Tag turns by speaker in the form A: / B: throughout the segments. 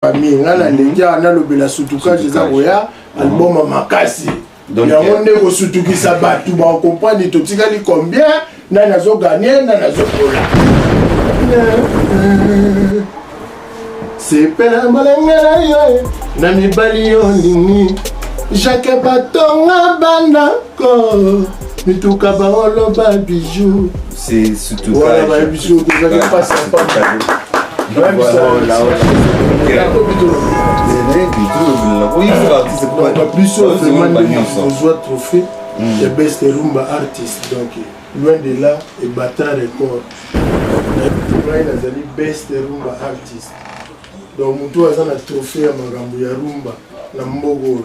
A: famille nga na ndenge awa nalobela sutukage eza koya album makasi yango nde kosutukisa bato bakokomprendre totikali combien nani azoganye nani azokola sepela molenge na yo na mibali yo olingi jake batonga banda Ko mituka baoloba bijou. C'est surtout
B: Voilà ba bijou
A: tozali pasi ya pamba. biso ozwa trophée ya best rumba artist donc loin de là ebata record ngai nazali best rumba artist donc motu aza na trophée ya makambo ya rumba na mbogo oyo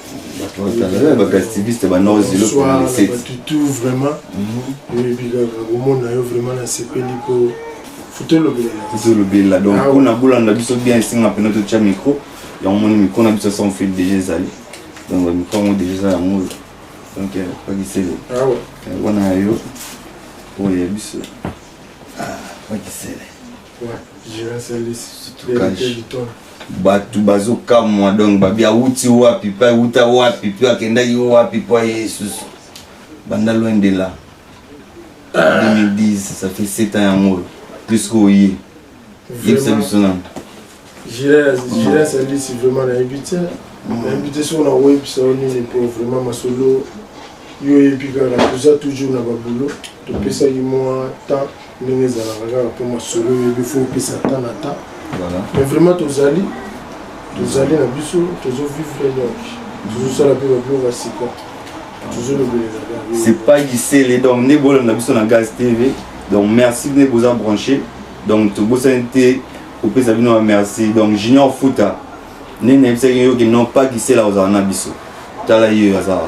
A: bagastiviste banaozilo tout vraiment mhm. oyebi kaka komona yo vraiment nasepeli mpo futolobela donc ah mpona
B: bolanda biso bien esenga mpena totya micro yango moni micro na biso sans fil déjà ezali donc bamicro yango déjà eza yango donc euh, pakisele ah euh, wana
A: ya yo
B: oyo ya biso ah, pakisele
A: bato
B: bazokamwa donc babi awuti wapi mpe awuta wapi mpe akendaki wapi mpo aye esusu banda loin de là 2010 ça fait 7 ans yango oyo plus koye yebisa biso nano Gilles,
A: Gilles Alisi, vraiment nayebi te. Nayebi te soki nakoyebisa yo nini mpo vraiment masolo yo oyebi kaka toza toujours na babulo topesaki mwa temps ndenge ezalaka kaka mpo masolo oyebi fo opesa temps na temps mais vraiment
B: tozali
A: tozali na biso tozovivre donc tozosala mpe babiloko ya sika tozolobelela c'est pas gisele
B: donc nde bolanda biso na gaz tv donc merci nde boza branché donc tobosani te kopesa bino ba merci donc junior futa nde nayebisaki yo ke non pas gisela ozala na biso tala ye oyo aza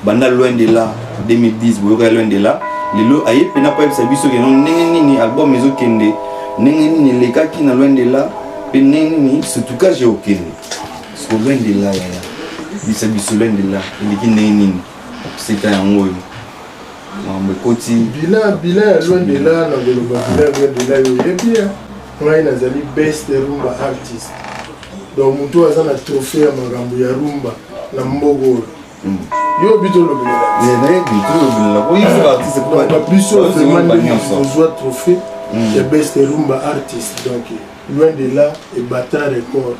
B: banda loin de là 2010 boyoka loin de là lelo aye mpena mpo ayebisa biso ke non ndenge nini album ezokende ndenge nini elekaki na loin de là mpe ndenge nini sutukage okende siko loin de là yaya bisa biso loin de là eleki ndenge nini seta yango oyo makambo ekoti bila bila ya loin
A: de là na koloba bila loin de là yo oyebi ngai nazali best rumba artist donc moto oyo aza na trophée ya makambo ya rumba na mboka oyo hmm. yo
B: bitolobelelabisoozwa
A: trophée hmm. ya best rumba artist donc loin de là ebata record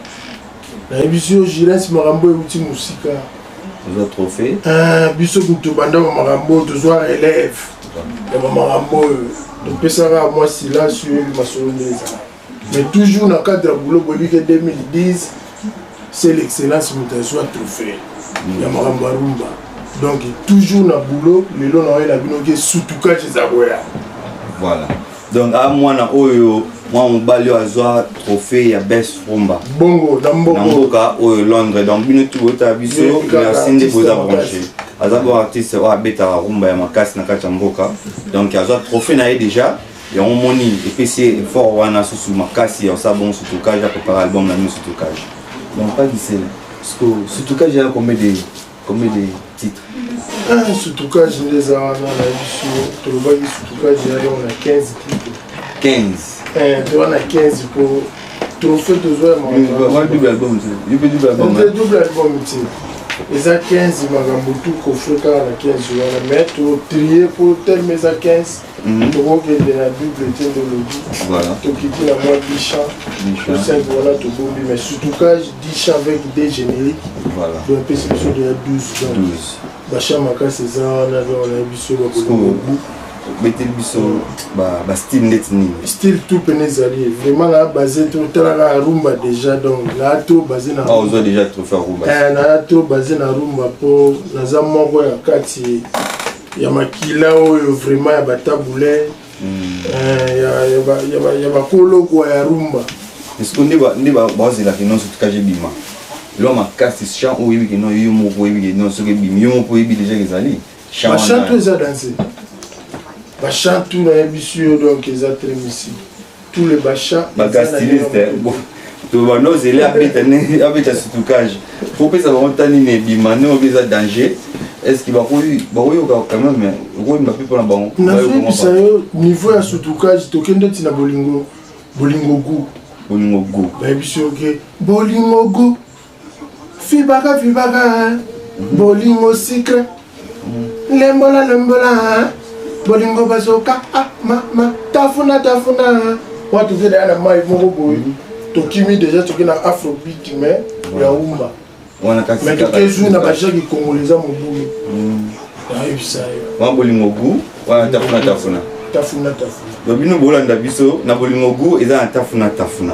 A: nayebisi yo gilles makambo euti mosika oza
B: trophée ah, biso kutu
A: banda ba makambo oyo tozwa relève ya ba makambo oyo topesaka mwa silence oyo yebi masolo nde ezala mais toujours na cadre ya boulot boyebi ke 2010 c'est l'excellence moto azwa trophée ya makambo ya rumba donc toujours na boulot lelo na oyela bino ke sutukaci eza koya voilà
B: donc a mwana oyo mwana mobali oyo azwa trophée ya best rumba bongo na
A: mboka oyo
B: londres donc bino tu botala biso merci nde boza branche aza bo artiste oyo abetaka rumba ya makasi na kati ya mboka donc azwa trophée na ye déjà yango moni epesi ye effort wana susu makasi ya osala bongo sutukage ya kopara album na bino sutukage donc pas gisele surtout kaja ya combien de Combien de titres ah,
A: Sutukage nde eza wana na biso tolobaki sutukage yali wana 15 titre 15 eh, to wana 15 mpo trophée tozwa
B: ya double album te
A: eza 15 makambo tu kofre kaka na 15 wana mais totrie mpo telema eza 15 Mhm. tokokende na bible etendologi tokiti
B: na mwa
A: disha tosai wana tobombi mais surtoukage disha avec de générique boyapesi
B: biso deya 12
A: donc basha makasi eza wana donc na biso bakolongobu
B: beteli biso bastyle ndeti nini style tout pene
A: ezali vraiment na base totalaka rumba déjà donc naa to base na ozwa déjà trophée
B: rumba naa to base
A: na rumba mpo naza moko ya kati ya makila oyo vraiment ya batabule hmm.
B: eh, ya bakolokwa ya rumba esiko nde bazelaka ino
A: soki
B: kaje bima eloko makasi champ oyo oyebi kino yo moko oyebi kino soki ebimi yo moko oyebi deja ezali bachantu eza
A: danse bachantu nayebisi yo donc eza très misile tout le basha bagastiliste
B: banozele abeta sutukage kopesa bango nta nini ebima ndenge obi eza danger estce bakoyoka quand même okoyimba mpe mpona bango nazoyebisa yo
A: niveau ya sutukage tokende ntina bolingo bolingo gu bolingo gu bayebisi oke bolingo gu Vibaka vibaka bolingo secret lembola lembola bolingo bazoka ah mama tafuna tafuna wana toke deya na mai moko boye mhm. tokimi deja toke na afrobeat mais ya umba mais toke zu na bajaki kongola eza mobulu mhm. nayebisa yo wana bolingo
B: gu wana tafuna tafuna tafuna tafuna bino bolanda biso na bolingo gu eza na tafuna tafuna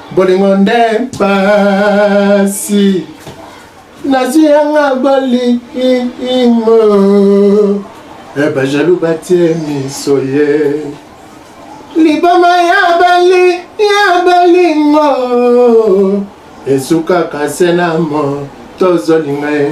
A: Bolingo nde mpasi nazwi yanga bolingo eh, bajalu batie miso ye liboma ya bali ya bolingo esukaka se na mo tozolinga ye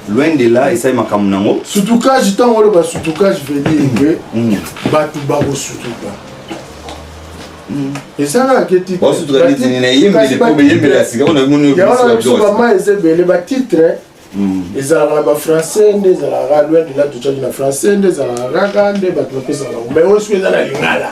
B: loin de là esali makambo nango sutukage ntango oloba
A: sutukage vedire ke mm. bato bakosutuka mm. ezalaka ke titreyangonabisobama eza ebele batitre mm. ezalaka na bafrançais nde ezalaka loin de là tocaki na français nde ezalaka kaka nde bato bapesaka mais oyo soki eza na lingala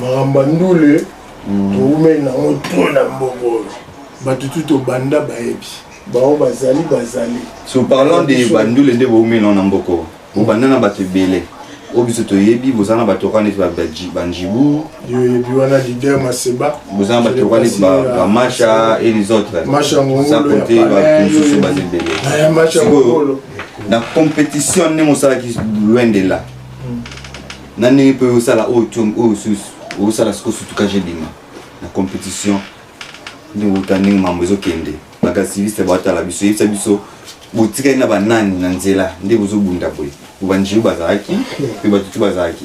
A: makambo ya ndule towumeli nango to na mboka oyo bato tu tobanda bayebi bango bazali bazali so
B: parlant de bandule nde bowumeli nango na mboka oyo bobanda na bato ebele oyo biso toyebi boza na bato kani neti banjibu yoyebi wana
A: lider maseba boza na bato kani
B: neti bamasha et les autres sans compter bato mosusu baza ebele eh, sikoyo na compétition ndenge osalaki loin de là na ndenge mpe osala oyo to oyo osusu osala siko sutuka jedima na competition ndenge outa ndenge mambo ezokende bagasiliste batala biso yebisa biso botikali na banani na nzela nde bozobunda boye bobanjeu bazalaki mpe bato tu bazalaki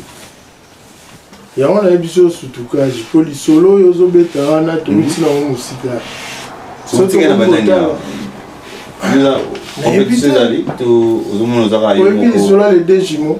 A: yango na ye biso sutukage mpo lisolo oyo ozobeta wana towuti nango mosika
B: oyebi lisolo ya
A: ledejimo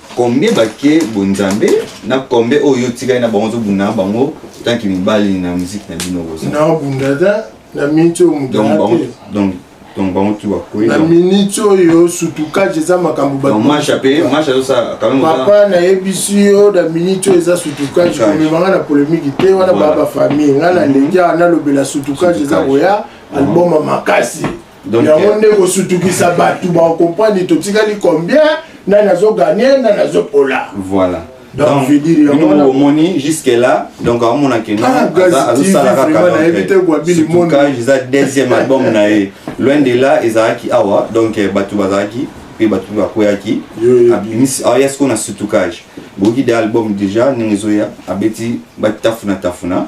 B: Combien bake bonzambe na combien oyo otikali na bango ozobunda na bango tanki mibali na miziki na bino boza nabunda te
A: na miniti oyo mudate donc
B: bango tu bakwei na miniti
A: oyo sutukage eza makambo
B: papa nayebisi
A: yo na miniti oyo eza sutukage komemanga na polemiki te wana baa bafamille ngai naleki nalobela sutukage eza koya album makasi Donc, yango euh, nde kosutukisa bato baokomprani totikali combien nani azoganye nani azopola voilà donc
B: bino
A: omoni
B: jusque là donc aomonaka noazosala kakasurcage
A: eza deuxième
B: album na ye loin de là ezalaki awa donc euh, bato bazalaki mpe bato mpe bakweyaki aya sikoyo na sutukage boyoki de album déjà ndenge ezoya abeti batafuna tafuna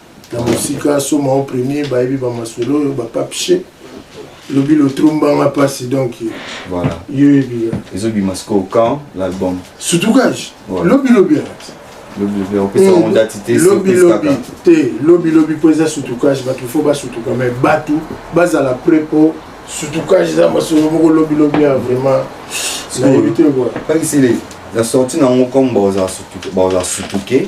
A: na mosika soma o premier bayebi bamasolo oyo bapapshe lobi lotrombanga mpasi donc voilà yo
B: ebia
A: ezobima sikoyo
B: quand l'album sutukage
A: lobi lobi
B: alati lobilobi te
A: lobilobi mpo eza sutukage bato fo basutuka mai bato bazala pre mpo sutukage eza masolo moko lobilobi ya vraiment nayebi te kua la
B: sortie na yango comme baoza sutuke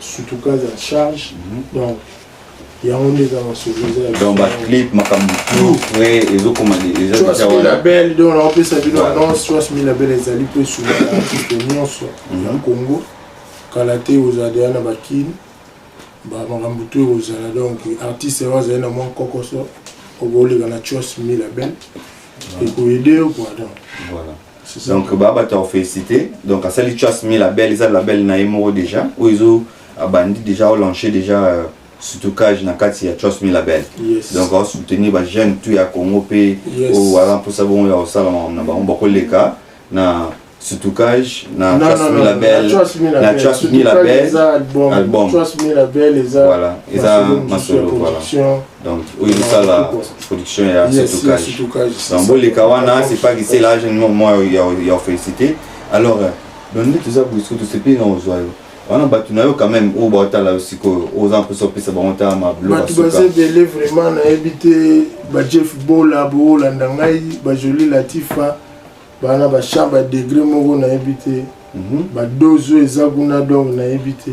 A: sutuka za charge donc yango nde eza masolo eza ya donc baclip
B: makambo tout frais ezokoma eza Choix deja wana Milabel,
A: donc naopesa bino Voilà. annonce choix milabel ezali mpe sula artiste nyonso ya Mhm. congo kala te ozala deya na bakini bamakambo to ekozala donc artiste yango azali na mwa kokoso okoleka na choix milabel ekoyede yo kua donc Voilà.
B: donc ba bato ya félicité donc asali chas mi label eza label na ye moko déjà oyo ezo abandi déjà olanche déjà euh, surtout cage na kati ya chos mi label yes. donc asoutenir ba jeune tout ya congo mpe yes. oyo aza mposa bongo ya kosala makambo na bango bakoleka na surtout cage na chos mi label na chos mi label album voilà
A: eza
B: masolo voilà donc oyo ezosala production ya situkage donc boleka wana c'est pas que c'est là je ne moi ya félicité alors euh, donc nde toza bosiko tosepeli na ozwa yo wana bato na yo quand même oyo baotala yo sikoyo oza mposa opesa bango ta mablobato baza ebele
A: vraiment nayebi te bajeff bola boolanda ngai bajoli latifa bana bachamp badegre moko nayebi te mhm. badose oyo eza kuna donc nayebi te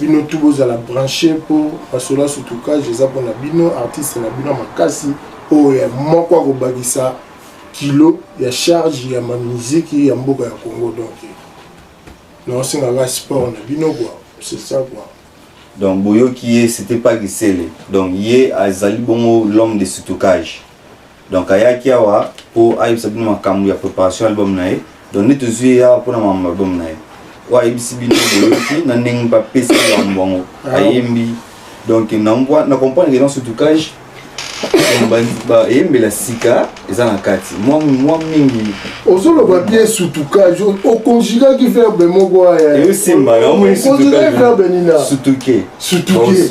A: bino tu bozala branche mpo masolo ya sutukage eza mpo na bino artiste na bino makasi oyo ya moko akobakisa kilo ya charge ya mamiziki ya mboka ya congo donc naosengaka sport na bino kua c'est ça kua donc boyoki
B: ye c'était pas gisele donc ye azali bongo l'homme de sutukage donc ayaki awa mpo ayebisa bino makambo ya préparation ya album na ye donc nde tozwi ye awa mpona makambo album na ye oyo ayebisi bino boyoki na ndenge mpe apesi yambo yango ah. ayembi donc na comprendre que dans ce trucage bayembela sika eza na kati mwa mingi ozoloba
A: bie sutukage okonjugaki verbe moko ayaeosimba verbe nina sutuke
B: sutuke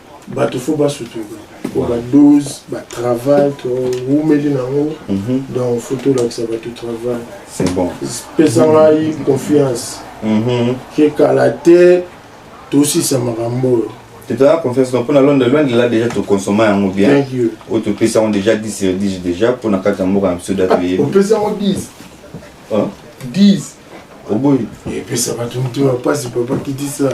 A: bato fo basutuka po badose batravail towumeli na yango mhm. donc fo tolakisa bato travail
B: pesa ngai
A: confiance mhm. ke kala te tosisa makambo oyo totala confiance donc
B: mpona londre loin de là déjà tokonsoma yango bien oyo topesi yango déjà 10 sur 10 déjà mpona kati ya mboka na biso date oyebi opesi yango 10 10
A: oboyi
B: epesa bato
A: motema mpasi papa kitisa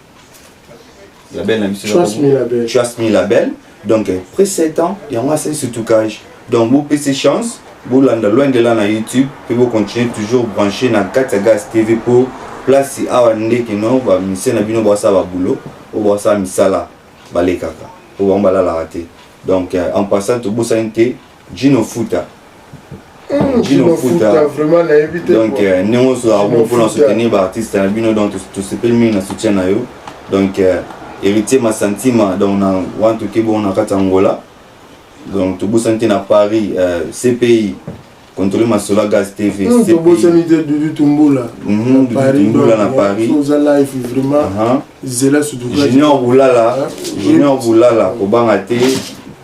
B: label na biso trust me label donc après 7 ans yango asali sutukage donc bopesi chance bolanda loin de là na youtube mpe bocontinue toujours branche na kati ya gas tv mpo place awa nde kino bamisie na bino bwasala babulo oyo bwasala misala balekaka mpo bango balalaka te donc euh, en passant tobosani te Gino Futa. Hmm, Gino Futa.
A: Donc, euh, ndenge oso
B: abo mpo na soutenir baartiste na bino donc tosepeli mingi na soutien na yo donc euh, héritier masantima donc na wantu kebongo na kati ya angola donc tobosani te na paris euh, cpi contrôle masola gas tv hmm, tobosani te
A: dudu tumbula mhm, tumbula na paris zela junior bulala
B: junior bulala kobanga te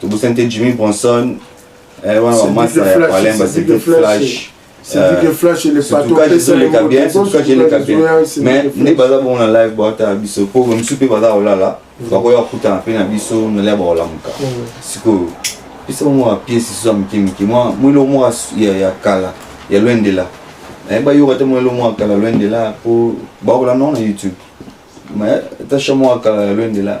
B: tobosani te jimmy bronson eh, wana bamasa ya palemba c'était
A: flash eleka bien eleka
B: bien mais nde baza bongo na live baotala biso mpo mosusu mpe baza kolala mm. bakoya kokutana mpe na biso nalia bakolamuka mm. sikoyo pesa bango ya piese lisusu ya mike mike mwa mwilo mwa ya kala ya lwendela eh, bayoka te mwilo mwa kala lwendela mpo bakola nao na youtube mais tasha mwa kala ya lwendela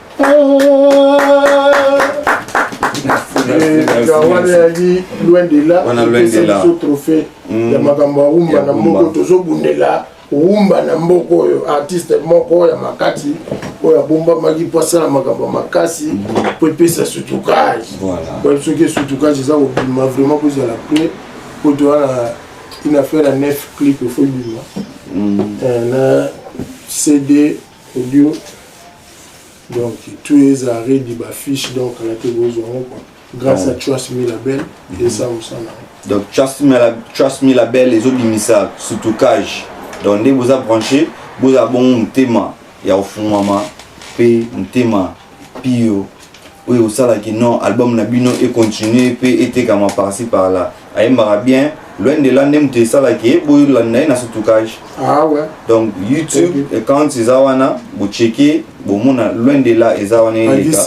A: wana yali loin de là biso trophée ya mm. makambo ya rumba na moko tozobundela rumba na mboka oyo artiste moko ya makasi oyo abombamaki mpo asala makambo ya makasi mpo mm. epesa sutukage soki esutukage eza kobima vraiment mpo ezala pre mpo toza na une affaire ya neuf clip efo ebima mm. eh, na cd Audio donc tu es à Redi ba fiche donc la te bozo quoi. Grâce à Trust Me Label et ça on s'en a. Donc Trust Me la
B: Trust Me Label les autres bimisa surtout cage. Donc ne vous a branché, vous a bon mutema ya ofungama pe mutema pio oyo osalaki non album na bino e continuer pe etekama parci par là ayembaka bien loin de là nde moto esalaki ye boyolanda ye na sutukage ah ouais. donc
A: youtube
B: okay. account eza wana bocheke bomona loin de là eza wana eleka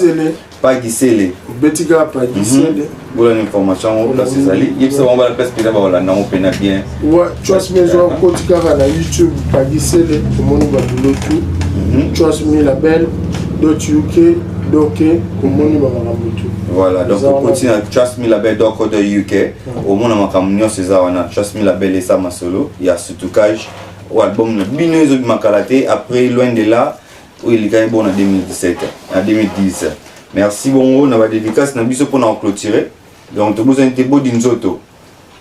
B: pakisele obetika pakisele
A: mm -hmm. bola na information
B: yango place ezali yebisa bango bala place mpenza bakolanda yango mpena bien choice
A: maison akoti kaka na youtube pagisele omoni babulo tu mhm. choice mi label dot uk doke omoni bamakambo tu voilà
B: donc okoti na choice mi label dot co dot uk omona makambo nyonso eza wana choice mi label eza masolo ya sutukage oyo album na bino ezobima kala te après loin de là oyo elekaki bo na 2017 na 2010 merci bongo na badédicace na biso mpona koclôture donc tobosani te bodi nzoto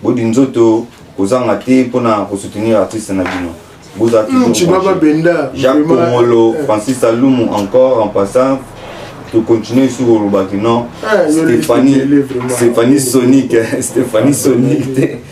B: bodi nzoto kozanga te mpona kosoutenir artiste na bino bozala jacques kongolo eh. francis alumu encore en passant tocontinue lisusu kolobaki non stéphanie sonic stéphanie sonic te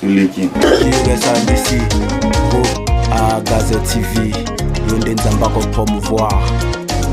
B: toleki
C: Gaza TV, yo nde nzambe akopromouvoir